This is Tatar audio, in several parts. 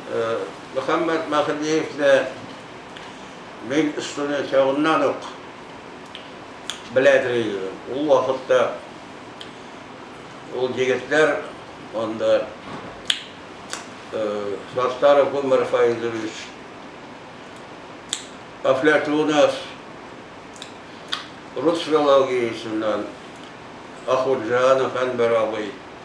Мөхәммәт Мәһдиевне мин студент чагыннан ук беләдер идем. Ул вакытта ул егетләр анда Саттаров Гомәр Фаизович, Афләтунов, рус филологиясеннән Ахунҗанов Әнвәр абый,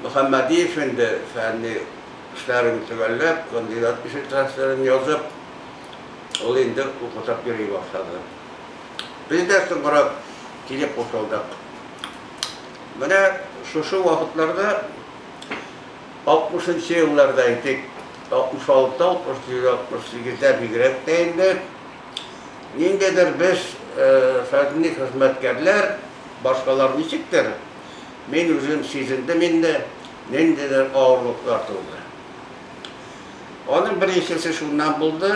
Мөхәммәдиев инде фәнни эшләрен төгәлләп, кандидат кеше трансферын язып, ул инде укытып йөри башлады. Без дә соңрак килеп кушылдык. Менә шушы вакытларда, алтмышынчы елларда әйтик, 66, 67, 68 ләр бигрәк тә инде, ниндидер без, фәнни хезмәткәрләр, башкалар ничектер, Мин үзем сизендем инде, ниндидер авырлыклар тулды. Аның беренчесе шуннан булды,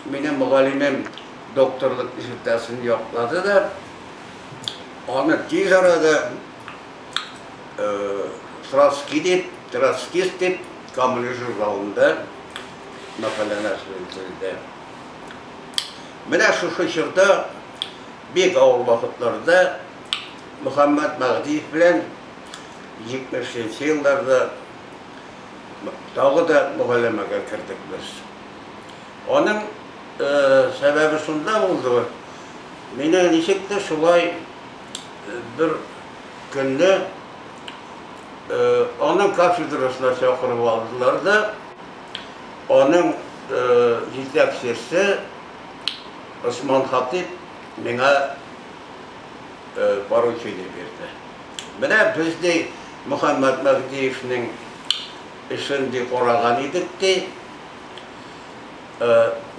минем мөгаллимем докторлык диссертациясен яклады да, аны тиз арада Троцкий дип, троцкист дип, Камлы журналында мәкаләне әзерләде. Менә шушы чорда бик авыр вакытларда Мөхәммәт Мәһдиев белән җитмешенче елларда тагы да мөгаләмәгә кердек без. Аның сәбәбе шунда булды, мине ничектер шулай бер көнне аның кафедрасына чакырып алдылар да, аның җитәкчесе Госман Хатип миңа поручение бирде. Менә без, ди, Мөхәммәт Мәһдиевнең эшен, ди, караган идек, ди.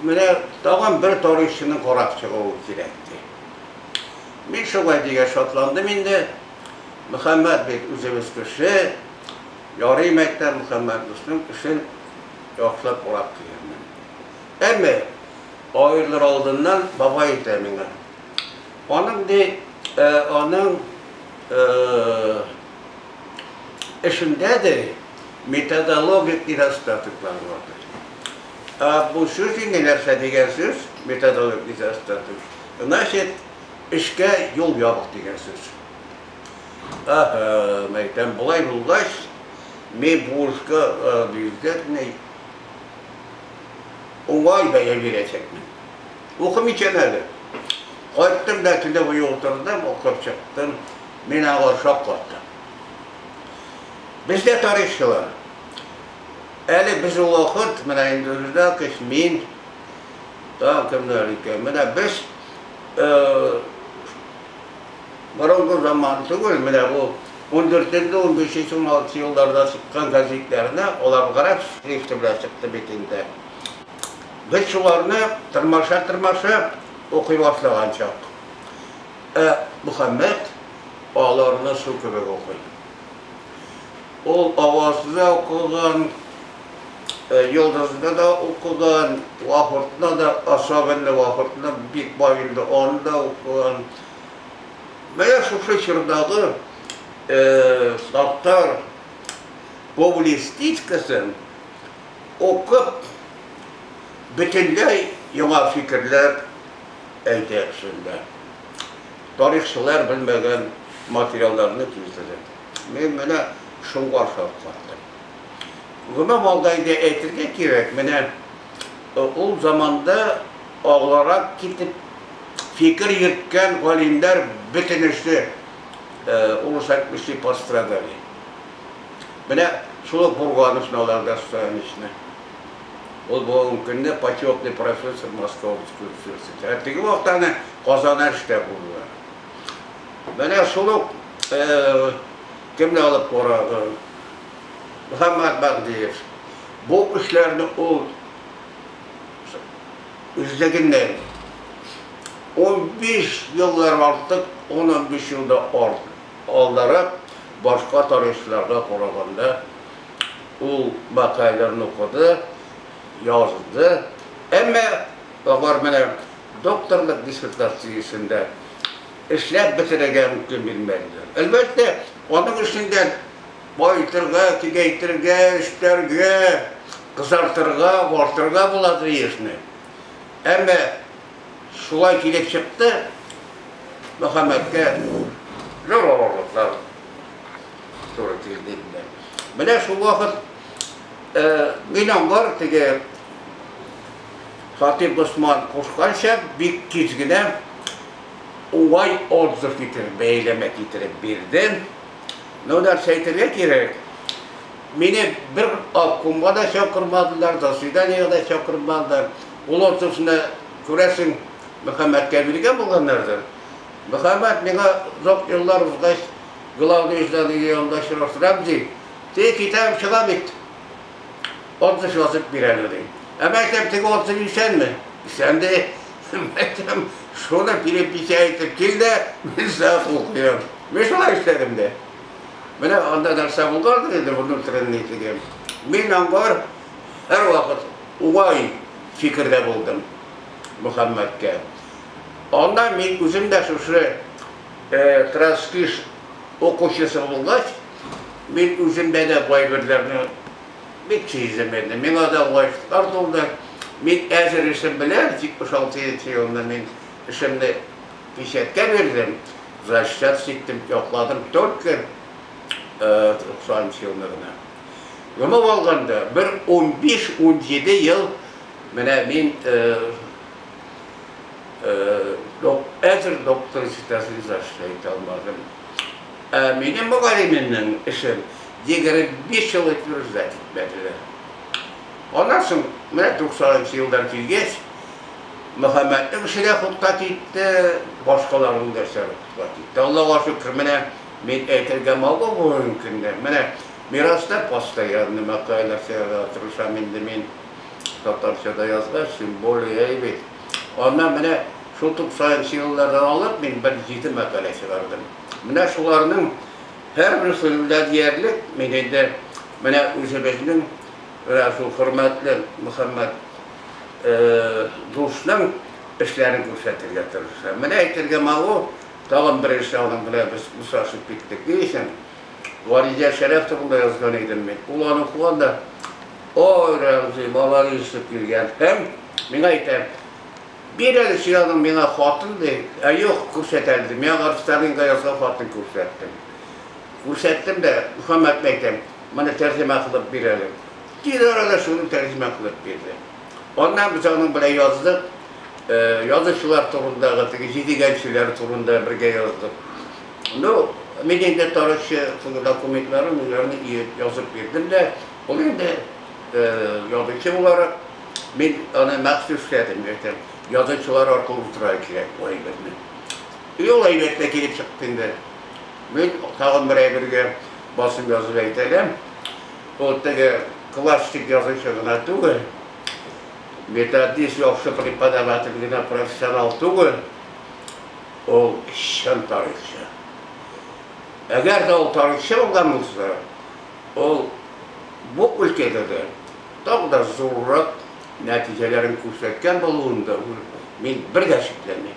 Менә тагын бер тарихчының карап чыгуы кирәк, ди. Мин шулай дигәч шатландым инде. Мөхәммәт бит үзебез кеше, ярый мәктәп Мөхәммәт дусның эшен яхшылап карап килермен. Әмма аерылыр алдыннан бабай әйтә миңа, Аның ди, аның эшендә ди методологик недостатоклар бар. Бу сүз инде нәрсә дигән сүз, методологик недостаток. Значит, эшкә юл ябык дигән сүз. Ага, мәйтәм, болай булгач, мин бу эшкә обязательно уңай бәя бирәчәкмен. Укым икән әле. Кайттым да килеп өйгә утырдым, укып чыктым. Мин аңа ошап калдым. Бездә тарихчылар. Әле без ул вакыт, менә инде Рюдакович, мин, там кемнәр икән, менә без борынгы заман түгел, менә бу 14-15-16 елларда чыккан газетләрне, алар гарәп шрифты белән чыкты бит инде. Без шуларны тырмаша-тырмаша укый башлаган чак, ә Мөхәммәт аларны су кебек укый. Ул Авазны да укыган, Йолдызны да укыган, Вахортны да, особенно Вахортны, бик бай инде, аны да укыган. Менә шушы чордагы Саттар публистикасын, Укып, бөтенләй яңа фикерләр әйтә кешеләр. Тарихчылар белмәгән материалларны китереп. Мин менә шуңа шаккаттым. Гомум алда инде әйтергә кирәк, менә ул заманда алгарак китеп фикер йөрткән галимнәр бөтенесе урыс әйтмешли пострадали. Менә шул ук Бурган өчен алар да сөенечле. Ул бүгенге көнне почетный профессор Московский университеты. Ә теге вакытта әнә Казанда эштә булдылар. Менә шул ук кемне алып карады? Мөхәммәт Мәһдиев. Бу эшләрне ул үзлегеннән 15 еллар артык, 10-15 елда артык Алдарак башка тарихчыларга караганда ул мәкаләләрне укыды, язды, әмма алар менә докторлык диссертациясендә эшләп бетерергә мөмкин бирмәделәр. Әлбәттә, аның эчендә баетырга, киңәйтергә, өстәргә, кызартырга, агартырга була ди эшне. Әмма Шулай килеп чыкты, Мөхәммәткә зур авырлыклар туры килде инде. Менә шул вакыт Гыйнамбар теге Хатип Госман кушканча бик тиз генә уңай отзыв китереп, бәяләмә китереп бирде. Ну, нәрсә әйтергә кирәк, мине бер обкомга да чакырмадылар, заседаниега да чакырмадылар. Ул ортасында, күрәсең, Мөхәммәткә биргән булганнардыр. Мөхәммәт миңа озак еллар узгач, главный иҗданыйның янында очраштырам, ди. Теге китабым чыга бит. Ордыш язып бир әле, ди. Ә мин әйтәм, теге ордыш исәнме? Исән, ди. Мин әйтәм, шуны перепися итеп кил дә, мин сиңа кул куям. Мин шулай эшләдем дә. Менә анда нәрсә булгандыр инде, внутренний теге. Мин аңар һәрвакыт Уай фикердә булдым Мөхәммәткә. Аннан мин үзем дә шушы Транскиш укучысы булгач, мин үземдә дә бу әйберләрне бик сиздем инде. Миңа да уңайсызлар тулды. Мин әзер эшем белән, 76 нче елны мин эшемне печатькә бирдем, защат ситтем, якладым только 90 нчы елны гына. Гомум алганда, бер унбиш-унҗиде ел менә мин әзер доктор дисертациясе яза итә алмадым. Ә минем мөгаллимемнең эшен егерме биш ел утверждать итмәделәр. Аннан соң, менә туксанынчы елдан килгәч, Мөхәммәтнең эше дә хутка китте, башкаларның да эшләре хутка китте. Аллага шөкер, менә Мин әйтергә мавыгу мөмкин дә. Менә Мираста постоянный мәкаләләр сөйләргә тырышам инде мин, татарча да язгач, тем более әйбит. Аннан менә шул туксанынчы еллардан алып мин бер җиде мәкалә чыгардым. Менә шуларның һәрберсе дә диярлек мин инде менә үзебезнең менә шул хөрмәтле Мөхәммәт дусның эшләрен күрсәтергә тырышам. Менә әйтергә мавыгу. Тагын бер эш ягыннан белән без очрашып киттек. Ни өчен? Варидә Шәрәф турында язган идем мин. Ул аны укыган да, Ой, Рәмзи, маладис, дип килгән һәм миңа әйтә, Бир әле син аның миңа хатын, ди. Ә юк, күрсәт әле, ди. Миңа барып Сталинга язган хатын күрсәттем. Күрсәттем дә, Мөхәммәтне әйтәм, Моны тәрҗемә кылып бир әле. Тиз арада шуны тәрҗемә кылып бирде. Аннан без аның белән яздык. Э, язучылар турындагы теге җидегәнчеләр турында бергә яздык. Ну, мин инде тарихчы теге документларын үзләренә иеп язып бирдем дә, ул инде э, язучы буларак мин аны махсус эшләдем, әйтәм, язучылар аркылы утыра кирәк бу әйберне. И ул әйбәтле килеп чыкты инде. Мин тагын бер әйбергә басым язып әйтәләм. Ул теге классик язучы гына түгел, методист, яхшы преподаватель генә, профессионал түгел, ул чын тарихчы. Әгәр дә ул тарихчы булган булса, ул бу өлкәдә дә тагы да зуррак нәтиҗәләрен күрсәткән булуында мин бер дә шикләнмим.